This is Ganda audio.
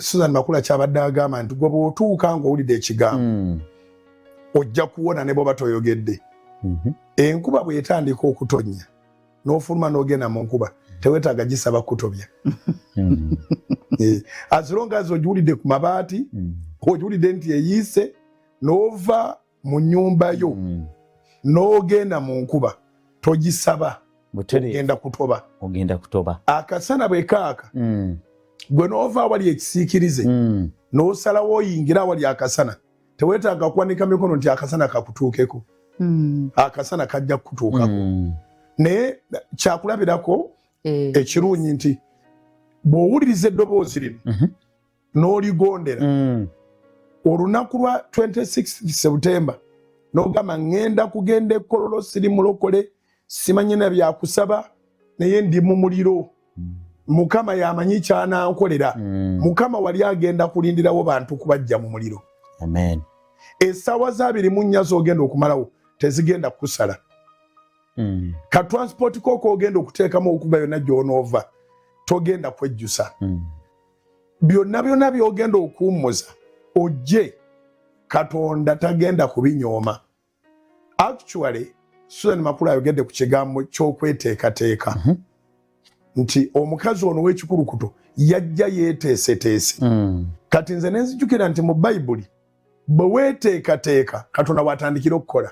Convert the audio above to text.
Susan Makula kyabadde agamba nti gwe bw'otuuka ng'owulidde ekigambo mm. ojja kuwona ne bwoba toyogedde mm-hmm. enkuba bw'etandika okutonnya n'ofuluma n'ogenda mu nkuba tewetaaga gisaba kutobya mm. eh, as long as ogiwulidde ku mabaati mm. ogiwulidde nti eyiise n'ova mu nyumba yo mm. n'ogenda mu nkuba togisaba ogenda kutoba ogenda kutoba akasana bwe kaaka mm. gwe n'ova awali ekisiikirize mm. n'osalawo oyingira awali akasana tewetaaga kuwanika mikono nti akasana kakutuukeko mm. akasana kajja kukutuukako mm. naye kyakulabirako eh, ekirungi nti bw'owuliriza eddoboozi lino mm -hmm. n'oligondera mm. olunaku lwa 26 septemba nogamba ŋŋenda kugenda ekololo siri mulokole simanyi na byakusaba naye ndi mu muliro mm. mukama yamanyi kyanankolera mm. mukama wali agenda kulindirawo bantu kubajja mu muliro esaawa zabiri mu nnya zogenda okumalawo tezigenda kusala mm. ka transport koko ogenda okuteekamu okuva yonna gyonoova togenda kwejjusa mm. byonna byonna byogenda okuwummuza ojje katonda tagenda kubinyooma actually susan makulu ayogedde ku kigambo ky'okweteekateeka mm -hmm. nti omukazi ono w'ekikulukuto yajja yeeteeseteese mm. kati nze nenzijukira nti mu bayibuli bwe weeteekateeka katonda waatandikira okukola